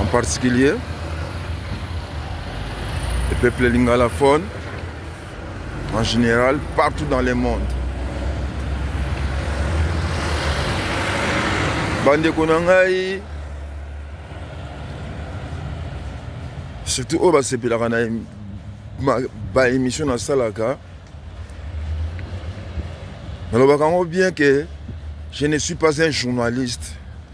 en particulier le peuple lingalaphone en général partout dans le monde bandeko na ngai surtout oyo basepelaka na baémission nasalaka nalobaka yango bien que je ne suis pas un journaliste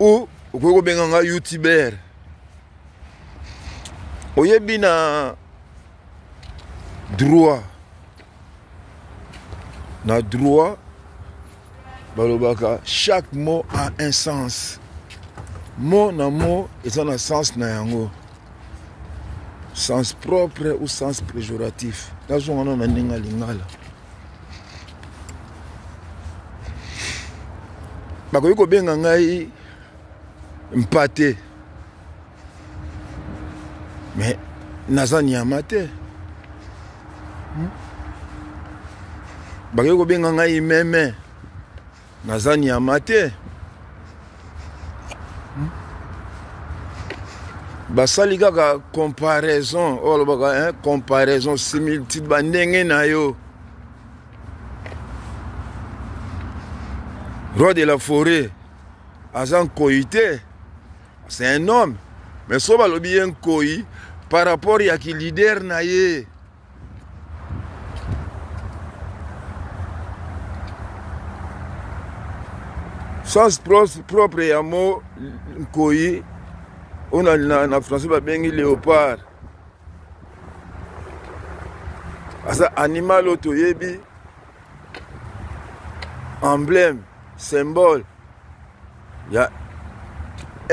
ou okoki kobenga nga youtuber oyebi na droit na droit balobaka chaque mot a un sens mot na mot eza na sens na yango sens propre ou sens péjoratif nazongana na ndenge ya lingala bakoki kobenga ngai mpate me naza nyama te hmm? bakoki kobenga ngai meme naza nyama te hmm? basali kaka comparaison oyo alobaka comparaison similitude bandenge na yo roi de la forêt aza nkoi te c'est un homme mais so balobi ye nkoi par rapport ya ki leader na ye sens propre ya mo nkoyi oyo na, na, na français babengi léopard aza animal oyo toyebi emblème symbole ya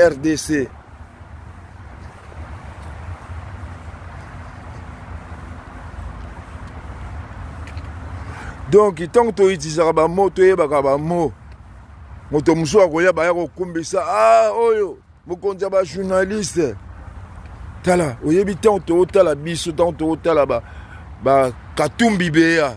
rdc donc ntango toitilizaka bamo toyebaka bamo moto mosusu akoya baya kokumbisa a ah, oyo mokonzi ya bajournaliste tala oyebi ntango tootala biso ntango tootala bakatumbi beya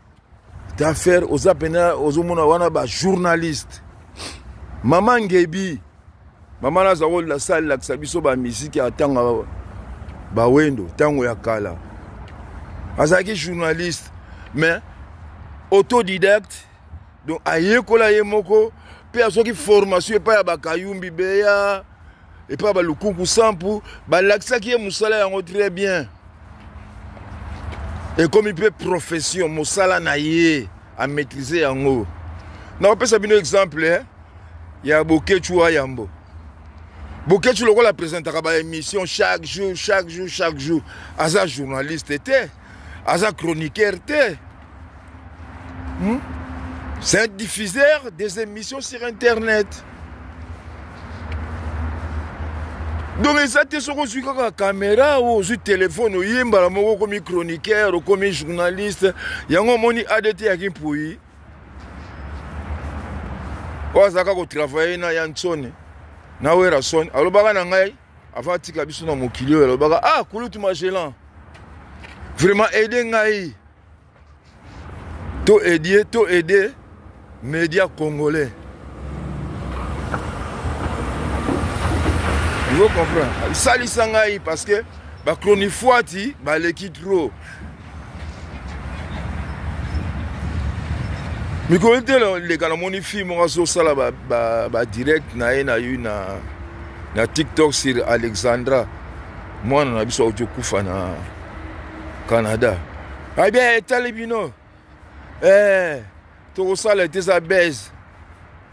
ta faire oza pena ozomona wana ba journaliste mama ngebi mama naza kolela salelakisa biso bamiziki ya ntango bawendo ntango ya kala azalaki journaliste mais autodidacte donc ayekola ye moko mpe azwaki formation epai ya bakayumbi beya epai ya balukuku sampu balakisaki ye mosala yango très bien ekomi mpe profession mosala na ye amaîtrise yango nakopesa bino exemple eh, ya boketshu ayambo boketshu lokola apresentaka baémission chaque jour chaque jour chaque jour aza journaliste te aza chroniqueur te hmm? c'est un diffuseur des émissions sur internet donc eza te soki ozwi kaka kamera o ozwi telefone oye mbala moko okomi chroniqueur okomi journaliste yango omoni adt ya kimpui oyo azalaka kotravaille na ya nsone na werason alobaka na ngai avant atika biso na mokili oyo alobaka ah kulutu magellan vraiment aide ngai to aidie to aide média congolais vous comprendre salisa ngai parce que bachronifuati baleki trop mikolo te leka namoni fille moko azosala badirect ba, ba na ye na yo na, na tiktok sur alexandra mwana na biso auti okufa na canada abia ah, etali bino eh, tokosala ete eza base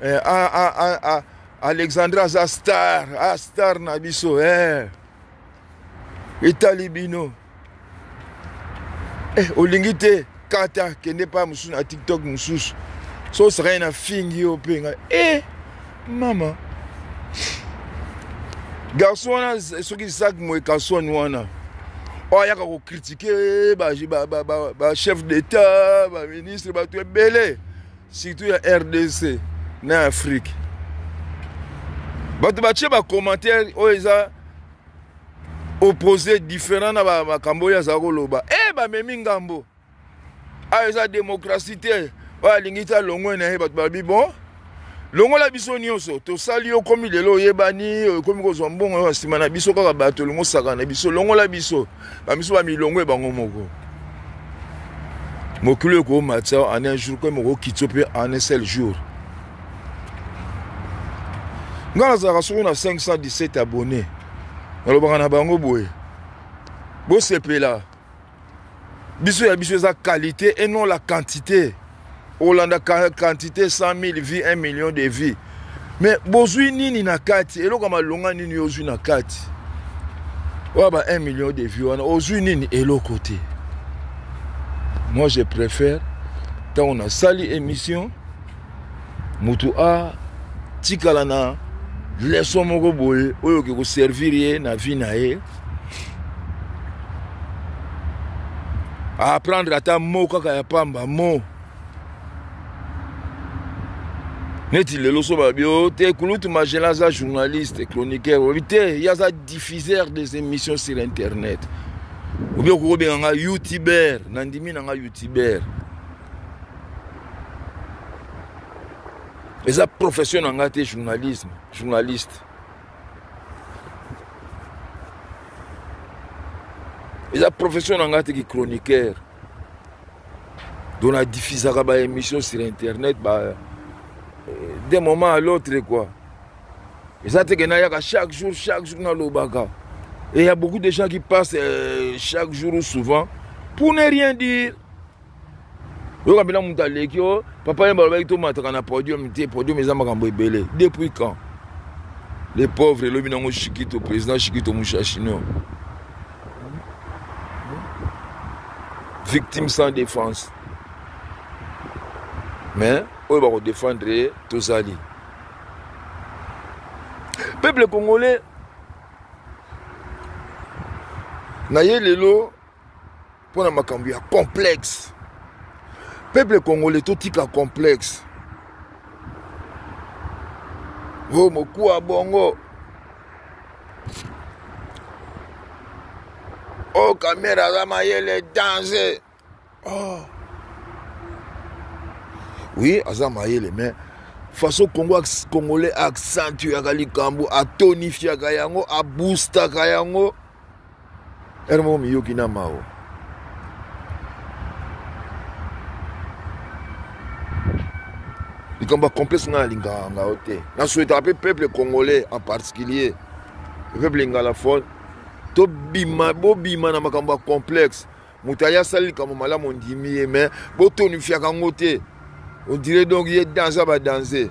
eh, a, a, a, a, alexandra aza star a star na biso eh, etali bino eh, olingi te kata kende epai mosusu na tiktok mosusu so osakani na fingi yo mpe ngai e mama garçon wana soki isak moekason wana oyo ayaka kokritike bachef d'état baministre bato ebele surtout ya rdc na afrique bato batye bacommentaire oyo eza opposé différent na makambo oyo azala koloba e bamemi ngambo ayo ah, eza démocratie te oyo alingi te alongwe na ye bato balobi bon longola biso nyonso tosali yo komi lelo oyebani okomi kozwa mbongo oyo nsima na biso kaka bato olingi osaka na biso longola biso bamiso bamilongo ebango moko mokili oyo ekoomata en un jour koye mokokitio mpe en un seul jour ngai nazalaka soko na 517 abonne nalobaka na bango boye bosepela biso ya biso eza qualité et non la quantité olanda quantité 100 000 vie 1 million de vie mais bozwi nini na kati eloko ya malonga nini yo ozwi na kati oyo ba 1 million de vie wana ozwi nini eloko te moi je préfère ntango nasali émission moto atikala na leson moko boye oyo oke koservir ye na vie na ye aapprendre ata mo kaka ya pamba mo neti lelo so balobi o oh, te kulutu magela aza journaliste chroniqueur olobi te ye aza diffuseur des émissions sur internet obi okokobenga nga youtubeur nandimi na nga youtubeur eza profession na ngai te journalisme journaliste eza profession na ngai te ki chroniqueur donc nadiffusaka baémission sur internet ba euh, d'un moment à l'autre quoi eza teke nayaka chaque jour chaque jour nalobaka et il y a beaucoup de gens qui passent euh, chaque jour ou souvent pour ne rien dire oyoka mpena moto aleki o oh, papa ye balobaki tomataka na podium te podium eza makambo ebele depuis quand les pauvres elobi nango shikito président shikito mushashino victime sans défense mais oyo bakodefendre ye tozali peuple congolais na ye lelo pona makambo ya complexe peuple congolais totika complexe o oh, mokuwa bongo o oh, kamera aza mayele danger oh. oui aza mayele mais façon congo congolais accentuaka likambo atonifiaka yango aboustaka yango Heure moko miyoki na mawa. likambo ya complexe ngai alingaka ngao te nasuetaka mpe peuple congolais en particulier peuple ingalaphone tobima bobima na makambo ya complexe moto aye asali likambo malamu ondimi ye mais botonifiaka yango te ondire donc ye danse ya badanse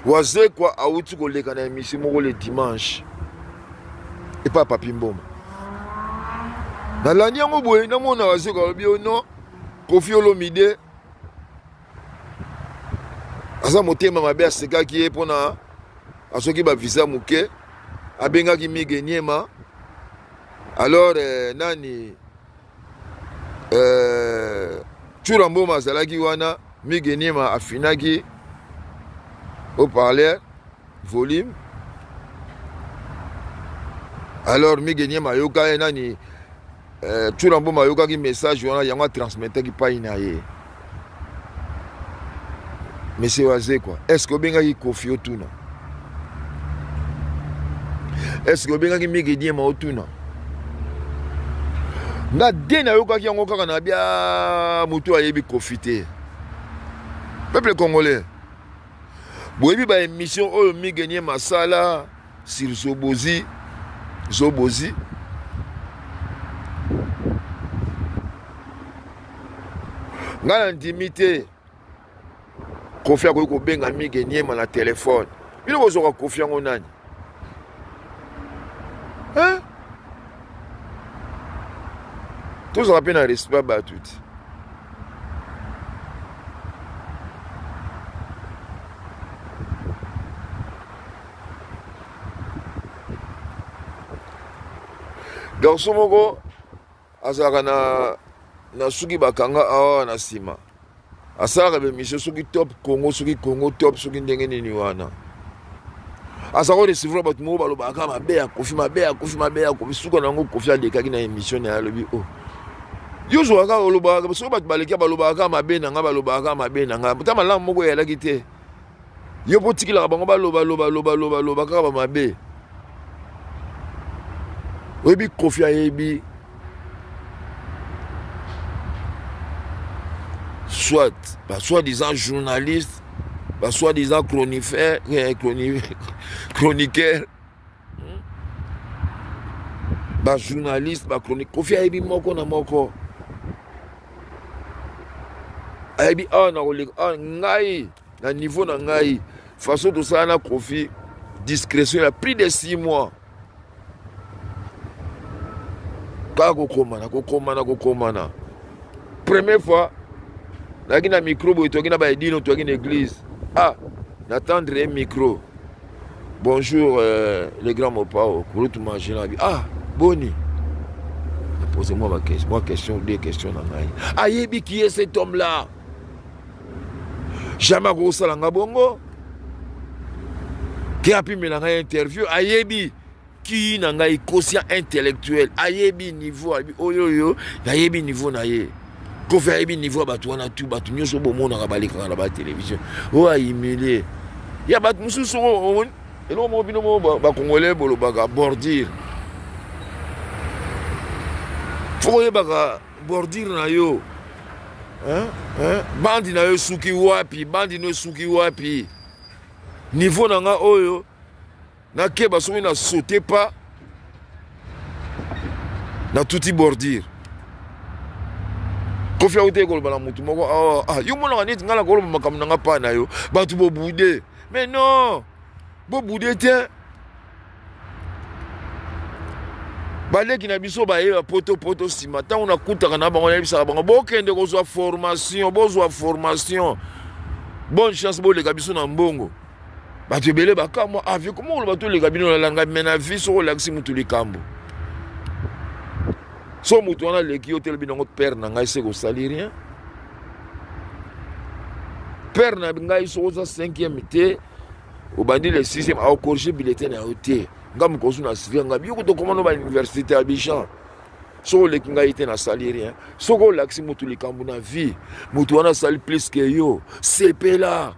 wazekwa awuti koleka na emission moko le dimanche epai ya papi mboma nalandi yango boye namona wazekwa alobi yo oh non kofi olomide aza motema mabe asekaki ye mpo na asoki bavisa moke abengaki mige niema alors eh, nani eh, tshura mboma azalaki wana mige niema afinaki au parleur volume alors mige niema ayoka ye nani eh, tuna mboma ayokaki message wana yango atransmetaki pai na ye monsieur wazekwa est ce que obengaki kofi otuna est ce que obengaki migediema otuna nga de nayokaki yango kaka na bia motu ayebi kofi te peuple congolais boyebi baémission oyo migenie masala sur zobozi zobozi ngai nandimi te kofi akoki kobenga mige niema na telefone bino kozwaka kofi yango nani hein? tozala mpe na respect bato ti garso moko azalaka na na suki bakanga awa na nsima asalaka bemission soki top congo soki congo top soki ndenge nini wana aza ko recevra bato moko balobaka kaka mabe ya kofi mabe ya kofi mabe ya kofi suka na yango kofi alekaki na émission na ye alobi o oh. yo ozwaka kaka olobaka soki bato baleki balobaka kaka mabe na ngai balobaka kaka mabe na ngai ta malamu moko eyalaki te yo mpo otikilaka bango baloba loba loba loba loba kaka bamabe oyebi kofi ayebi soit basoi disant journaliste basoi disant chronifer eh, chroniqueur hmm? ba journaliste ba chronique kofi ayebi moko na moko ayebi awa na koleka awa ngai na niveau na ngai façon tosala na kofi discrétion ya plus de six mois kaka kokomana kokomana kokomana première fois nayaki na micro boye toyaki na baedino toyaki na église ah natendre ye micro Bonjour euh, le grand Mopao, Kurutu Majinabi. Ah, Boni. Posez-moi ma question, moi question, deux questions dans ngai. Ayebi qui est cet homme là? Jamais akosala nga bongo. Ke apimela ngai interview, ayebi. Qui na ngai conscient intellectuel ayebi niveau ayebi oyo oyo nayebi niveau na ye kofi ayebi niveau ya bato wana tu bato nyonso bomonaka balekaka na batelevision oyo ahumilie ya bato mosusu omoni eloko moko bino moko bakongole bolobaka bordire fo koyebaka bordire na yo bandi na yo esuki wapi bandi no esuki wapi niveau na nga oyo nakeba soki na saute pas natuti bordure kofi auti ekoloba na motu moko awa ah, ah, ah, yo monaka neti ngai nakoloba makambo na ngai pa na yo bato bobude mais non bobude te baleki na biso bayeba poto poto nsima ntango nakutaka na bango nayebisaka bango bokende kozwa formation bozwa formation bonne chance boleka biso na mbongo bato ebele bakamwa avi ah, koma oloba toleka bino nalanga me na vi soko olakisi motu likambo so motu wana aleki yo telebi nango pere na ngai se kosali rien pere na ngai soko oza cinquième te obandi le sixième aocorrige bilete na yo te nga mokosu na sivia ngai yo kotokoma no bauniversité ya bijan soki oleki ngai te nasali rien soki olakisi motu likambo na vie motu wana asali plus ke yo sepela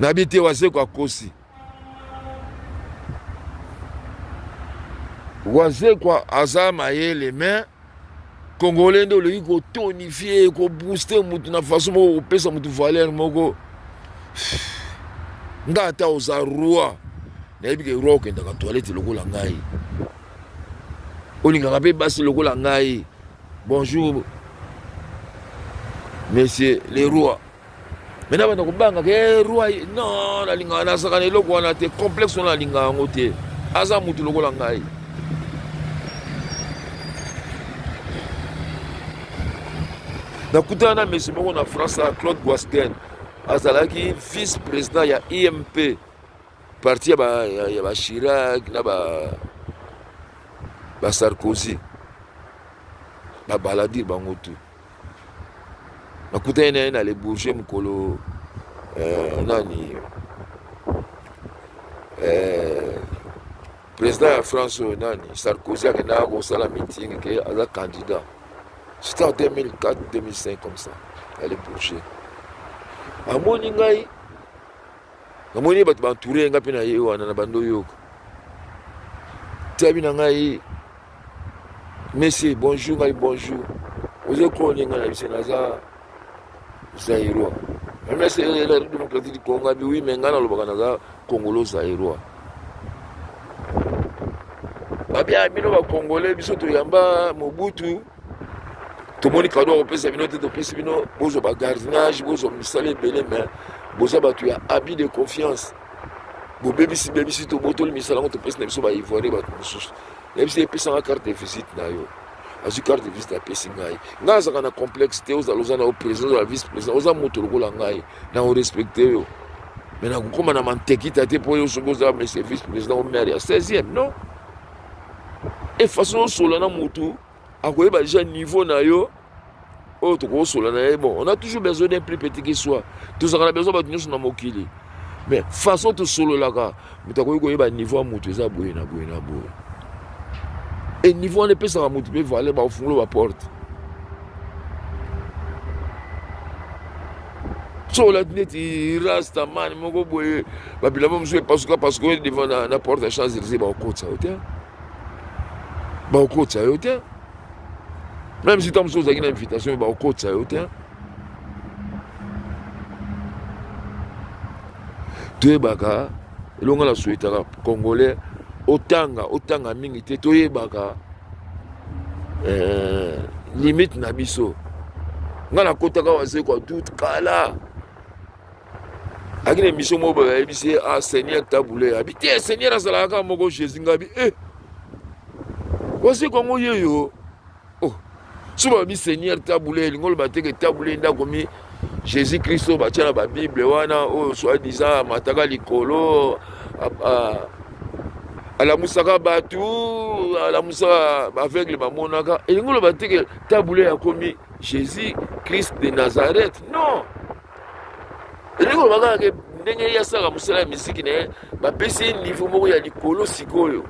nayebi te wazekwa akosi wazekwa aza mayele mais congolais nde olingi kotonifie kobooste motu na façon moko kopesa motu valeur moko nga ata oza roi nayebi ke roi okendaka toilette lokola ngai olingaka mpe basi lokola ngai bonjour monsieur le roi me na banda kobanga ke eh, roi non nalingaka nazaka na eloko wana te complexe wana nalingaka yango te aza motu lokola ngai nakutana na mesi moko na france na claude guastin azalaki vice président ya imp e parti ya bachirac na basarkozy babaladire bango tout nakutani na ye na le bourget mokolo eh, nani eh, président ya france oyo nani sarkozy akendaka kosala meeting ke aza candidat c'était en 2004 2005 comme ça ya le bourget amoni ngai namoni ye bato baentoure ye ngai mpe na ye wana na bando yoka tiabi na ngai mese bonjour ngai bonjour oza kone ngai na biso naza zairois mese la démocratie du congo abi wi me ngai nalobaka naza congolo zairois babia bino bacongolais biso toyamba mobutu tomoni kado akopesa bino te topesi bino bozwa bagardinage bozwa misala ebele me boza bato ya abus de confiance bobebisi bebisi tobotoli misala yango topesi na biso baivoire bato mosusu nayebi se epesanga carte de visite na yo azwi carte de visite apesi ngai ngai azalaka na complexe te ozala oza na yo président ozala vice président oza moto lokola ngai na orespecte yo me nakokóma na mantekita te mpo yo soki oza mese vice président o maire ya 16e non e façon osola na motu akoyeba déjà niveau na yo oyo tokokosola na ye bon on a toujours besoin d'un plus petit qui soit tozalaka na besoin bato nyonso na mokili mais façon tosololaka moto akoki koyeba niveau ya moto eza boye na boye na boye e niveau wana epesaka moto mpe valeur bakofungola baporte so olati neti rastaman moko boye babilamba mosusu epasuka pasuka oyo devant na, na porte ya champs élysé bakokotisa yo te bakokotisa yo te même si ta mosusu ozalaki na invitation bakokotisa yo te toyebaka elongo na souhaitaka congolais otanga otanga mingi te toyebaka eh, limite na biso ngai nakotaka wasekwa tout kala ayaki na émission moko boye ayebisi ye ah seigneur tabule abi te seigneur azalaka kaka moko jésus ngai abi e waseku yango yeyo oh soki babi seigneur tabule elingi oloba te ke tabule ndako mi jésus christ oyo batya na babible wana oyo oh, soi disant amataka likolo alamusaka bato alamusaka baaveugle bamonaka elingi oloba te ke tabule akomi jésus christ de nazareth non elingi koloba kaka ke ndenge ye asalaka mosala ya miziki na ye bapesi ye niveau moko ya likolo sikoyo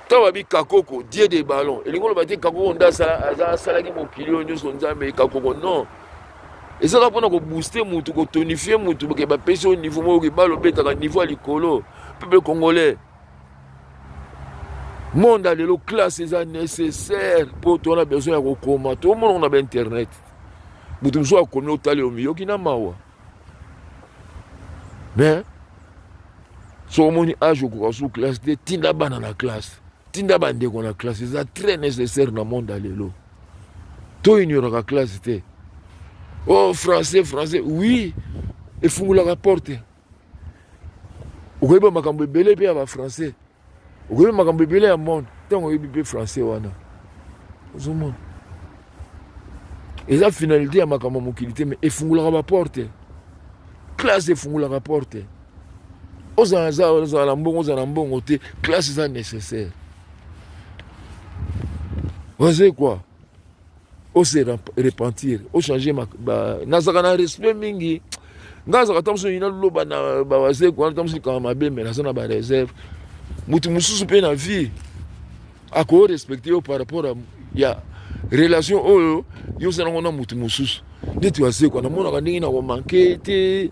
ntango babi kakoko die de ballon elingi koloba te kakoko nde asalaki mokili oyo nyonso nzambe kakoko non eza kaka mpona kobooste motu kotonifie motu ke bapesi oyo niveau moko ke balo obetaka niveau ya likolo peuple congolais monde ya lelo classe eza nécessaire mpo to na besoin ya kokoma tomonoko na bainternet moto mosusu akomi otali yo miyoki na mawa mais soki omoni age okoka su classe te tinda bana na classe tinda bandeko na classe eza très nécessaire na monde ya lelo to ignoraka classe te oh français français oui efungolaka porte okoyeba makambo ebele mpe ya bafrançais okoyeba makambo ebele ya monde ntango oyebi mpe français wana ozomona eza finalité ya makambo ya mokili te mai efungolaka baporte classe efungolaka porte ozala na mbongo ozala na mbongo te classe eza nécessaire oze quoi ose repentir ochange nazalaka na respect mingi ngai azalaka ta mosusu yina loba na bawazeko wana ta mosusu likanga mabe me naza na bareserve moto mosusu mpe na vie akoyo respecte yo par rapport ya relation oyo yo ozalango na moto mosusu ndeti wazekwa namonaka ndenge nakomanke te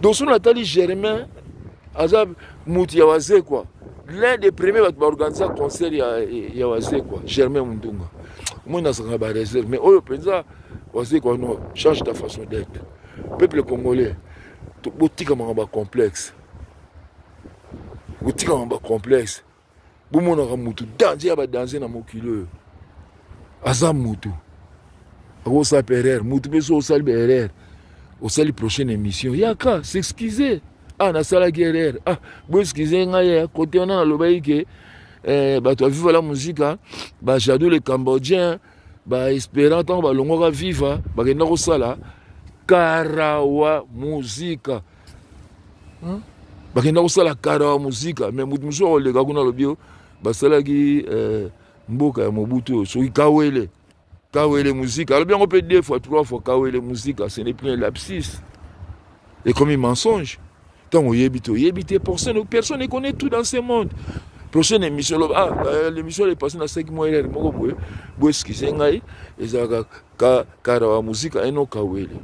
donc soki natali germain aza motu ya wazekwa l'un des premier bato baorganisa concert ya, ya wazekwa germain mundunga moi nazalaka bareserve mais oyo mpenza wazekwa no change ta façon d'être peuple congolais botika makambo ya complexe botika makambo ya complexe bomonaka mutu danger ya ba danger na mokili oyo aza mutu akosala mpe erreur mutu mpe so osali ba erreur osali prochaine émission yaka s'excuse ah nasalaki erreur ah boexcuse ngai ya kote wana nalobaki ke eh, bato ya viva la musica bajadou le cambodgien baespérant ntango balongwaka viva bakenda kosala karawa musica Hein? bakenda kosala kara ya mosika me moto mosusu akoleka kuna alobi yo basalaki eh, mboka ya mobutu oyo soki kawele kawele mosika alobi yango mpe deux fois trois fois kawele mosika ce n'est plus un lapsis ekomi mensonge ntango oyebi te oyebi te personne personne econnaît tout dans ce monde prochaine émission loba ah, euh, l'émission est passée na 5 mois elele moko boye boeskize ngai ezalaka ka kara wa muzika eno kawele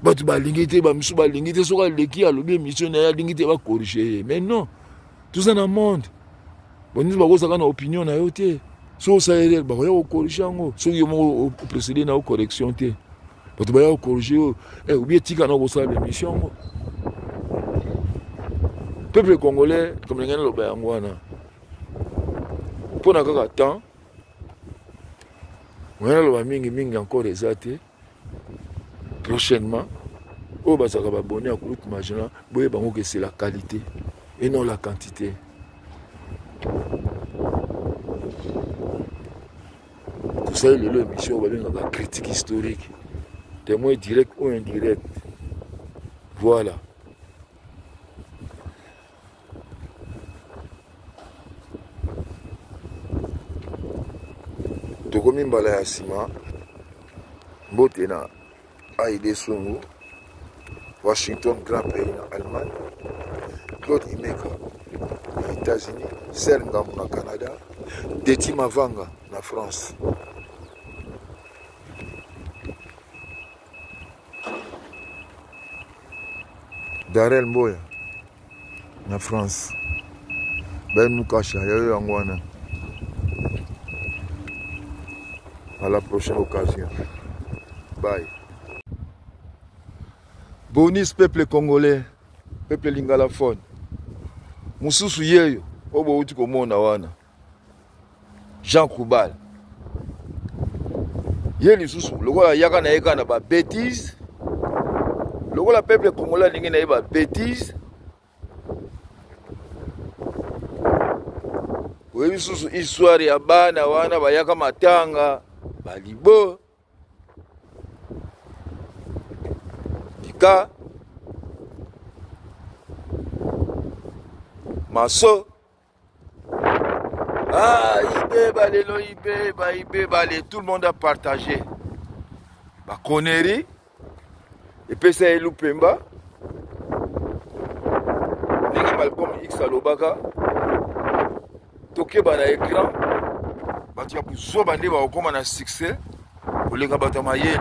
bato balingi te bamisu balingi te soki aleki alobi émission na ye alingi te bakorige ye mais non toza na monde banisi bakozaka na opinion na yo te soki osala erreur bakoya kokorige yango soki yo moko opresede na yo correction te bato baya kokorige yo eh, obi etika na kosala baémission yango peuple congolais comme ndenge naloba yango wana mpo na kaka temps oya naloba mingi mingi encore eza te prochainement oyo bazalaka babone ya groupe magina boyeba yango ke c'est la qualité et non la quantité tosali lelo émission oyo babengaka critique historique témoin direct ou indirect voilà tokomi mbala ya nsima mbote na aide songo washington grand prix na allemagne claude imeka na états-unis sel ngambo na canada deti mavanga na france darel mboya na france ben mukasha yayo yango wana à la prochaine occasion bye bonis peuple congolais peuple lingalaphone mosusu yeyo oyo bouti komona wana jean koubal ye lisusu lokola yaka na ye kaka na babétise lokola peuple congolais alingi na ye babétise oyebi lisusu histoire ya bana wana bayaka matanga balibo tika maso Ah, Ibeba, Lelo, Ibeba, Ibeba, les, tout le monde a partagé. Bah, connerie. Et puis ça est Lupemba. Nengi Malcolm X alobaka. Tokeba na écran. Bato ya buzoba nde bakokoma na succès koleka bato ya mayele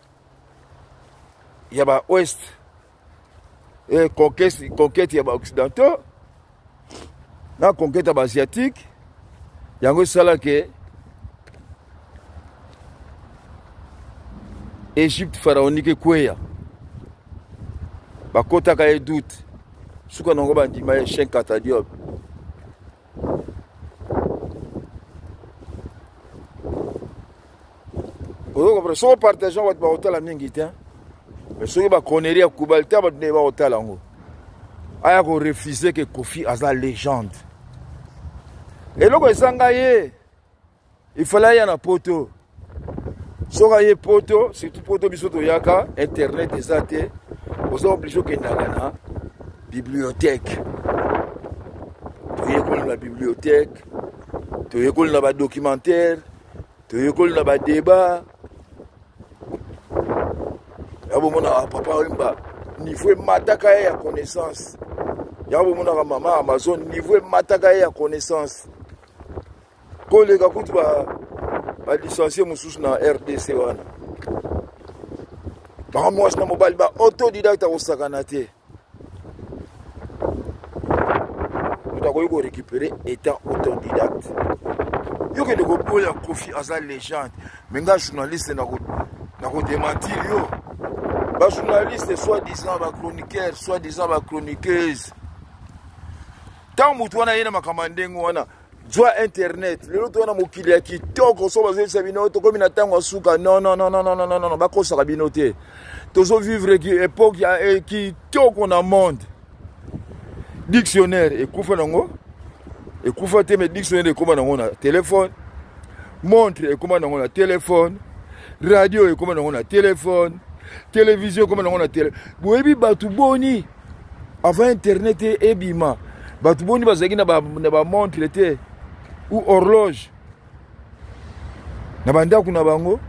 ya ba ouest e conquete, conquete ya ba occidentaux na conquete ya ba asiatique yango esala ke egypte pharaonique ekweya bakotaka ye doute suka nango bandima ye chenkata diobe ozo comprendre soko partage yango bato bakotala mingi te mais soki baconeri ya kubal te bato nde bakotala yango aya korefuse ke kofi aza legende eloko ezanga ye il fallait aya na poto soki aye poto surtout poto biso toyaka internet eza te oza oblige okendaka na bibliothèque toyekoli na bibliothèque toyekoli na badocumentaire toyekoli na badébat ya bomonaka papa oyemba niveau emataka ye ya connaissance ya bomonaka mama amazon niveau emataka ye ya connaissance koleka kutu balicencie mosusu na rdc wana bango mwasi na mobali ba autodidacte akosakana te moto akoki korécupere étant autodidacte yo kende koboya kofi aza légende me nga journaliste nakodementir yo bajournaliste soit disant bachroniqueur soit disant bachroniqueuse ntango moto wana ye na makambo ya ndenge wana zwa internet lelo toza na mokili ya kitoko so bazoyebisa bino tokomi na ntango ya suka nonnnnnnn bakosaka bino te tozovivre epoke ya eh, kitoko na monde dictionnaire ekufa nango ekufa te mais dictionnaire ekoma nango na telefone montre ekoma nango na telefone radio ekoma nango na telefone televizio ekoma nango na tele boyebi bato boni avant internet ebima bato boni bazalaki na bamontre ba te ou horloge na bandako na bango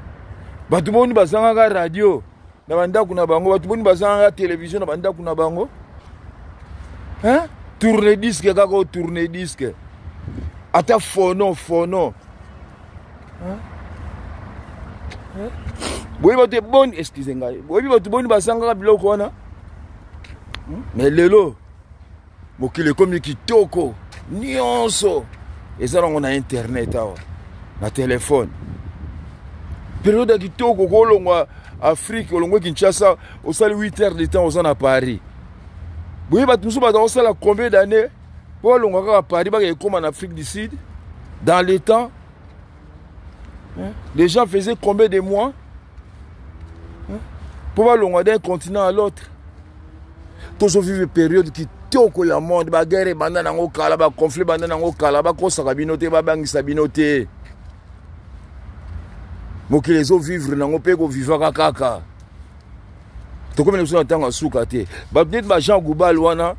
bato boni bazangaka radio na bandako na bango bato boni bazangaka televizio na bandako na bango hein? tourne disque kaka o tourne disque ata fono fono boyebi bato eboni excuse ngai boyebi bato boni basangaka biloko wana hmm? mais lelo mokili ekomi kitoko nyonso eza nango na internet awa na telefone periode ya kitoko okolongwa afrique olongwe kinshasa osali 8 heures de temps oza na paris boye bato mosusu baza kosala combien d'année mpo alonga kaka paris baka ekoma na afrique du sud dans le temps les gens faisaient combien de mois mpo balonga d'un continent à l'autre tozovive période kitoko ya monde baguerre ebanda nango kala baconflit ebanda nango kala bakosaka bino te babangisa bino te mokili ezovivre nango mpe ekovivaka kaka tokomi na biso na ntango ya suka te peut-être ba jean goubal wana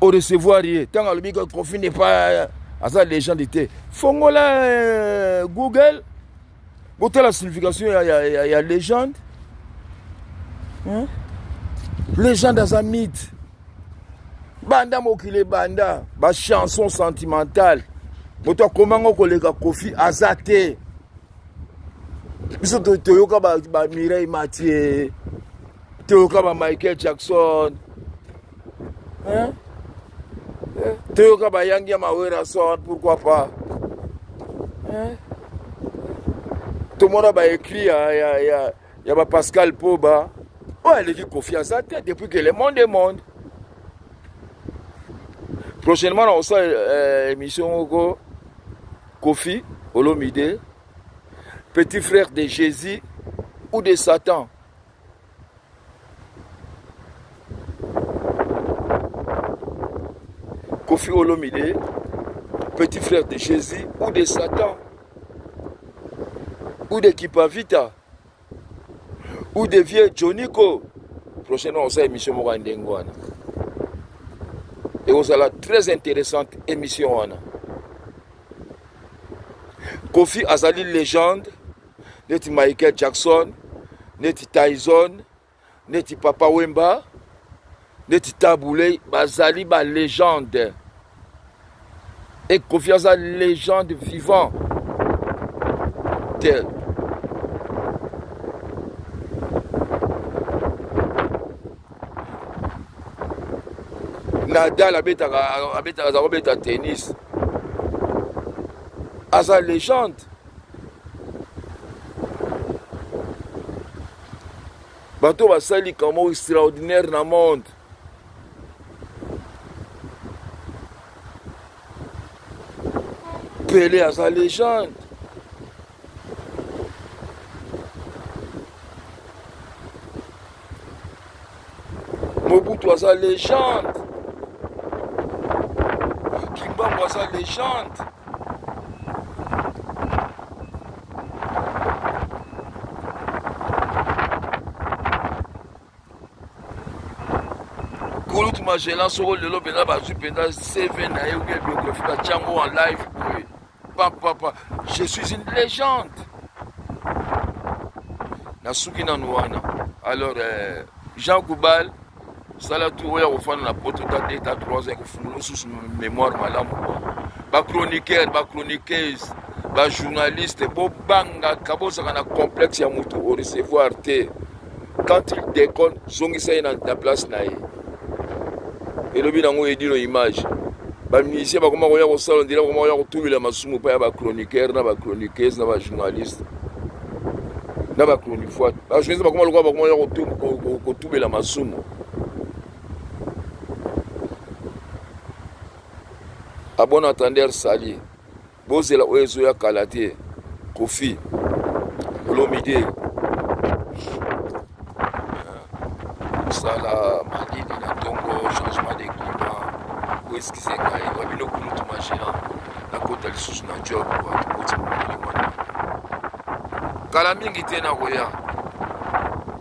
orecevoir ye ntango alobi kofi ne pas aza legende te fongola euh, google botala signification ya, ya, ya, ya legende hein? legende aza mythe banda mokili ebanda bachanson sentimentale moto akomango koleka kofi aza te biso toyoka bamireille ba matie toyoka ba michael jackson hein? Eh, toyoka bayangi ya mawerason pourquoi pas hein? tomona baécrit ya, ya, ya, ya bapascal poba oyo aleki kofi aza te depuis que le monde est monde prochainement nakosala euh, émission moko Kofi Olomide, petit frère de Jésus ou de Satan Kofi Olomide, petit frère de Jésus ou de Satan ou de Kipavita ou de vieux joniko prochaine fois osala émission moko ya ndenge wana ekozala très intéressante émission wana kofi azali légende neti michael jackson neti tyson neti papa wemba neti tabule bazali ba legende e kofi aza legende vivant te nadal abetaka abetaka aza kobeta tennis aza legende bato basali likambo moko extraordinaire na monde pele aza legende mobutu aza legende kimbangu aza legende kulutu magellan soko lelo mpenza bazwi mpenza cv na ye oke biographie batyango en live boye papa papa je suis une légende nasuki nanu wana alors euh, jean goubal sala tu oyo akofanda na poto ta 2 ta 3 ekofungula osusu mémoire malamu bachroniqueur bachroniqueuse bajournaliste bobangaka bozalaka na complexe ya moto orecevoir te quand il déconne zongisa ye na place na ye elobi nango edino image bamusicien bakoma koya kosala ndela bakoma koya kotubela masumu epai ya bachroniqueur na bachroniqueuse na bajournaliste na bachronifoite bajournaliste bakoma lokola bakoma koya kotubela masumu abon entendeur sali bozela oyo ezoya kala te kofi olomide kosala malili na ntongo changement de climat oeskize ngai wa bino kulutu magéant nakota lisusu na job koti mokili wana kala mingi te nakoya